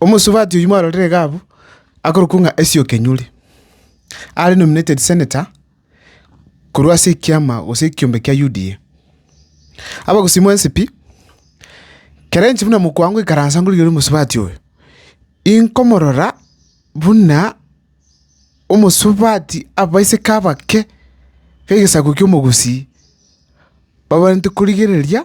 Omosubati oyio mwarorire iga abwo, akorokwa ng'a Esio Kenyuri, are nominated senator korwa ase ekiama gose ekiombe kia UDA. Abagusii mwensipi, kera inche buna mokwango ikaransa ngorigereria omosubati oyo, inkomorora buna omosubati abaiseke abake b'egesaku kia omogusii, babarente korigereria.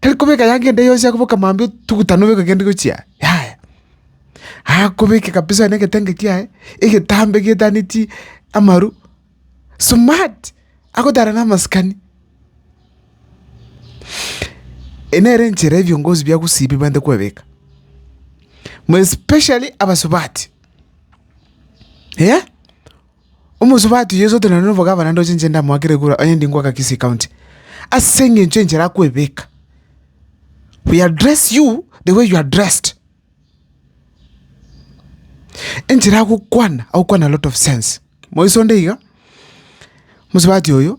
Tari kobeka yanga ende yonsi akoboka mambia otuguta nobeke kende gochia aye, yaya. Akobeke kabisa onye negetenge kiaye, egetambe getaneti amaru, smart, agotara na amasikani. Eye nere enchera ya ebiongozi bia gosibia ebibaete kwebeka, more especially abasubati, eeh. Omosubati oyio Sote nonye nobogavana ndochenche ndamoakere kura, onye ndi ngoaka Kisii County, ase eng'encho enchera akwebeka. We address you the way you are addressed. Enchera agokwana, agokwana a lot of sense. Moiso onde iga, mosubati oyo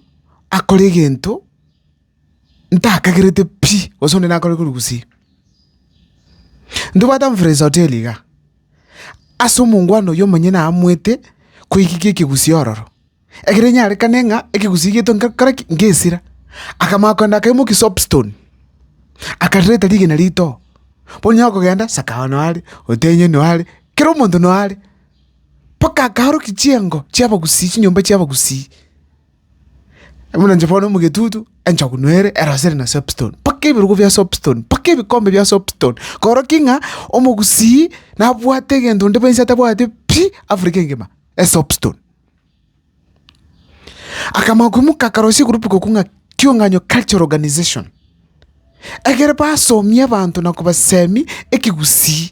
akore egento. ntakagerete pi gose onde nakore korwa gusii. Ntobwate amfresa hoteli iga, ase omongwana oywo omonyene aamwete koigiki ekegusii ororo, ekero enyarekane ng'a ekegusii gieto nka nkore ki? Ngesira. Akamanya kogenda akaimokia soapstone, akareta rigena ritoo, bono onyara kogenda sakawa noyo are, otenyo noyo are, kera omonto noyo are, mpaka akaorokia chiengo chia abagusii chinyomba chia abagusii. Buna inche bono omogetutu, enchokuna ere, erasere na soapstone, mpaka ebirogo bia soapstone, mpaka ebikombe bia soapstone, korokia ng'a omogusii nabwate egento onde bwensi atabwati pi, Africa engima, esoapstone. Akamanya koimoka akarosia egroup gokwa ng'a Kiong'anyo Cultural Organization, egere basomie abanto na kobaseemia ekegusii.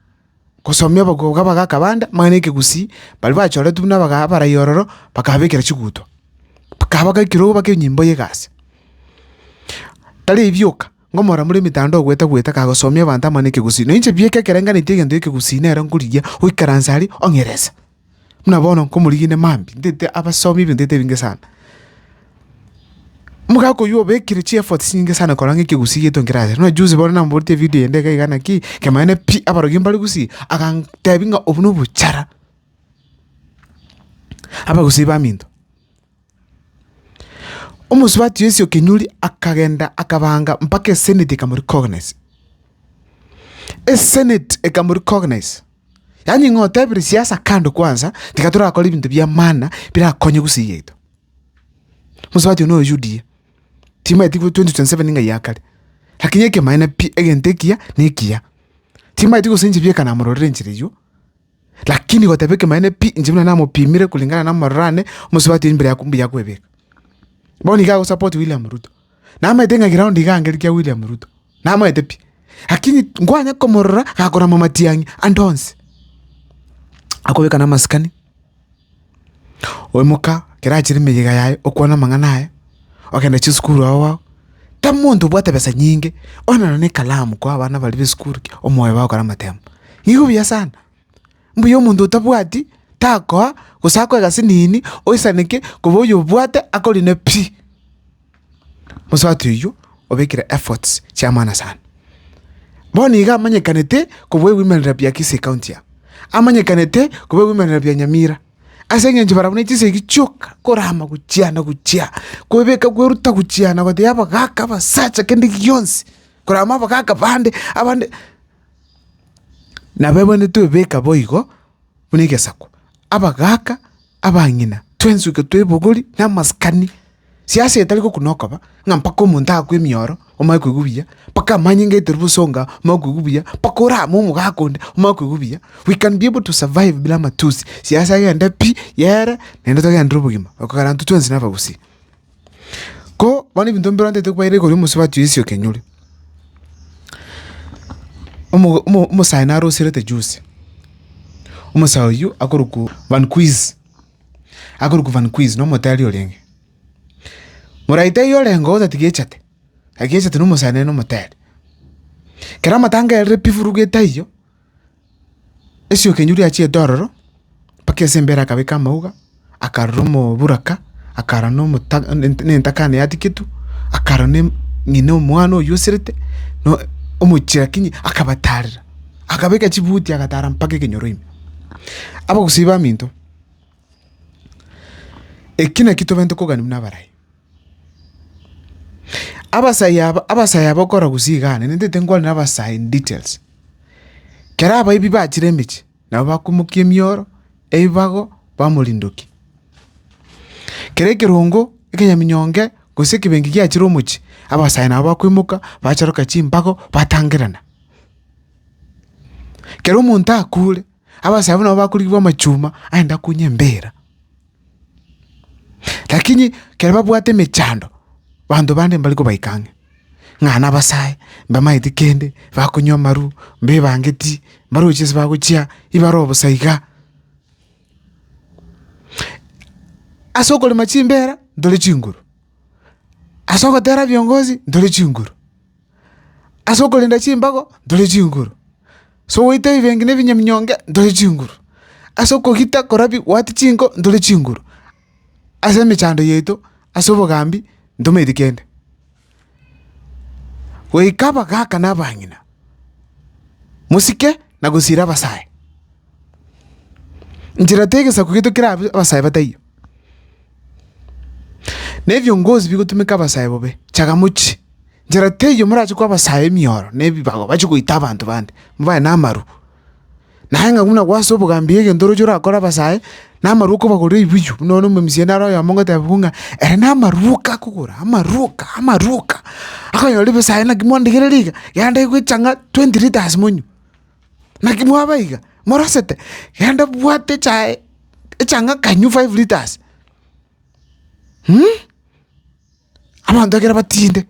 gosomia abakobwa abagakabanda, amang'ana y'ekegusii, baria bachoretwe buna abaga abarai ororo, bakababekera chiguto, bakabaka ekerogo bake enyimbo y'egasi. Tari ebi bioka, ng'a omoramori omitanda ogwete gwete kagosomia abanto amang'ana ekegusii, na inche bieka ekerengaretie egento ekegusii nero nkorigia, oikaranse aria ong'erese. Buna bono nkomorigine mambia, ntete abasomi ebinto ntete ebinge sana. Omogaka oyio obekire chi efforts chinyinge sana korora ng'a ekegusii giaito nkerabe ase. Buna juzi bono namoboretie evidio ende iga iga naki, kemanene pi, abarokia mbare gusii, agantebi ng'a obwo nobochara, abagusii baminto. Omosubati o Yeso o kenyuori akagenda akabaanga mpaka eseneti ekamorikognisa. Eseneti ekamorikognisa, yaani ng'a otebire siasa kando kwansa, tiga torakore ebinto bi'amana birakonye gusii yaito. Mosubati oyio no UDA, timanyeti gose twenty twenty seven ng'ai yakare, lakini ekemaene pi egento ekiya nekiya, timanyeti gose inche bieka namororire enchera eyio. Lakini goteba ekemanyererio pi, inche buna namopimire kulingana nomorero one, omosubati oyo mbere ya mbuya kwebeka. Bono iga agosupport William Ruto. Namaete ng'a ground iga angere kia William Ruto. Namaete pi. Lakini nkwanye komorora gakorama matiang'i ande onsi. Akobeka namasikani. Oimoka ekero achire emeyega yaye okwane amang'ana aye, ogende chisukuru ao ao, tari monto obwate besa nyinge, onye nonye na ekalamu kwa abana baria b'esukuru ki, omoyo bagokora amatemba. Nigo buya sana, mbuya omonto otabwati takoa gose akwe egasi nini oisaneke koba oyobwate akorine pi. mosato oyio obekire efforts chi'amaana sana. Bono iga amanyekanete kobua ebimerera bia Kisii county aa, amanyekanete kobua ebimerera bia Nyamira, ase eng'encho barabwo ne chisegi chioka korama gochia na gochia, kwebeka kweruta gochia na gotebia abagaka, abasacha kende gionsi, korama abagaka bande abande. Nabo abande twebeka boigo. buna egesaku, abagaaka, abang'ina, twensuke twa ebogori, na amasikani. Siasa etari gokuna okoba, ng'a mpaka omonto aakwe emioro, omanye koigwa buya, mpaka amanyinga aiterwe bosonga, omanye koigwa buya, mpaka orame omogaaka onde, omanye koigwa buya. We can be able to survive buna amatusi, siasa egende pi, yere, naende togenderere obogima, ekero intwe twensi na abagusii. Ko bono ebinto mbirontete kwaire igoro y'omosubati oisio kenyoro, omogo- omo- omosae narosiorete juzi, omosae oywo akorokwa vanquiz, akorokwa vanquiz na omotari orenge. Moraito eywo orenge otatiga echate, egechete na omosae nere na omotari. Kero amatango erire pi furu getaiyo. Esiokenyu riachiete ororo, mpaka ase embere akabeka amauga, akarora omoburaka, akarora na omota na entakana yatigetwe, akarora na ng'ina omwana oywo oserete, na omochie lakini akabatarera, akabeka chibuti agatara mpaka ekenyoro ime. Abagusii baminto, eki naki tobwenerete kogania buna abarai. Abasayi aba, abasayi aba okora gusii iga aane, nintete nkwane abasayi in details. Kera abaibi bachire emechie, nabo bakomokia emioro, ebibago, bamorindokia. Kera ekerongo, ekonyaminyonge, gose ekebenki giachire omochie, abasayi nabo bakoimoka, bacharoka chimbago, batangerana. Kera omonto akure, abasayi abwo nabo bakorigia bwa amachuma, aende akunye embira. Lakini ekero babwate emechando, abanto bande mbari kobaika ang'e, ng'a nabasae, mbamaeti kende, bakonywa amarwa, mbebangeti, mbarochi ase bagochia, ibare obosa iga. Ase okorema chimbera, ntore chinguru, ase ogotera ebiongozi, ntore chinguru. Ase okorenda chimbago ntore chinguru, ase ogoita ebibengi na ebinyaminyonge ntore chinguru, ase okogita korabia goatia chinko ntore chinguru, ase emechando yaito ase obogambi ntomaeti kende. Goika abagaka na abang'ina, mosike na gosiira abasae. Nchera tegesaku gento kerabe abasae bataiyo. Nebiongozi bigotumeka abasae bobe, chagamochi, nchera teiyo morache koa abasae emioro na ebibago bache goita abanto bande, mobaye namaru. Naye ng'a buna gwase obogambi egento oroche orakore abasae, namaru okobagorera ebiyu, buna bono omomisieri naro oyomo ngoteba buna, ere namaru oka akogora, amaru oka, amaru oka, akonyora ebisae naki mondegerere iga, yande gocha ng'a twenty litres monywe. Naki mwaba iga morasete, genda bwate echae echang'aka inywe five litres abanto ekero batinde.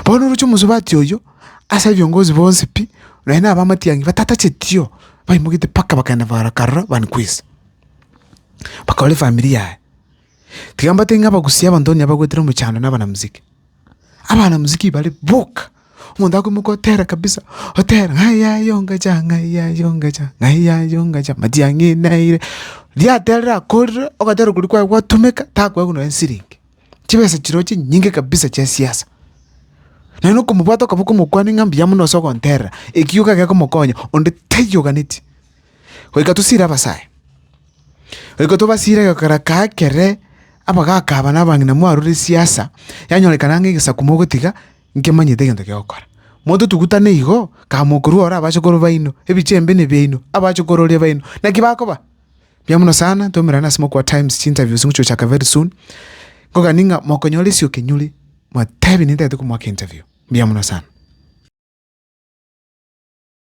Bono oroche omosubati oyio ase ebiongozi bonsi pi, nonya na abamatiang'i batatachetie baimoketie mpaka bakagenda bagakarora banikwesi, bakarora efamiri yaye. Tiga mbate ng'a abagusia abanto onye abagwetire omochando na abana muziki, abana muziki bare boka. Omonto akoimoka otera kabisa, otera ng'ai yaye ongacha, ng'ai yaye ongacha, ng'ai yaye ongacha, mati ang'inaire. Riria aterire akorire, ogatera okoria kwaye gwatumeka, takoewa nonye siringi. Chibesa chiria chinyinge kabisa chia siasa. Naende okomobwata okaba okomokwania ng'a mbuya mono ase ogonterera, ekiyoka gekomokonya, onde taiyo oganetie. Goika tosiire abasae, goika tobasiire egekara kaye kere, abagaka aba na abang'ina mwarorire siasa, yanyorekana ng'a egesaku mogotiga. Nkemanyete egento ki'ogokora. Monto tugutane igo, kama okorua ore abachokoro baino, ebiche embe nebiaino, abachokororia baino. Naki bakoba? Mbuya mono sana, twaumerane ase mokwa Times, chi'interviews ngochia gochaka very soon. Nkogani ng'a mokonyora ase okenyori, mwatebi nintagete komoaka interview. Mbuya mono sana.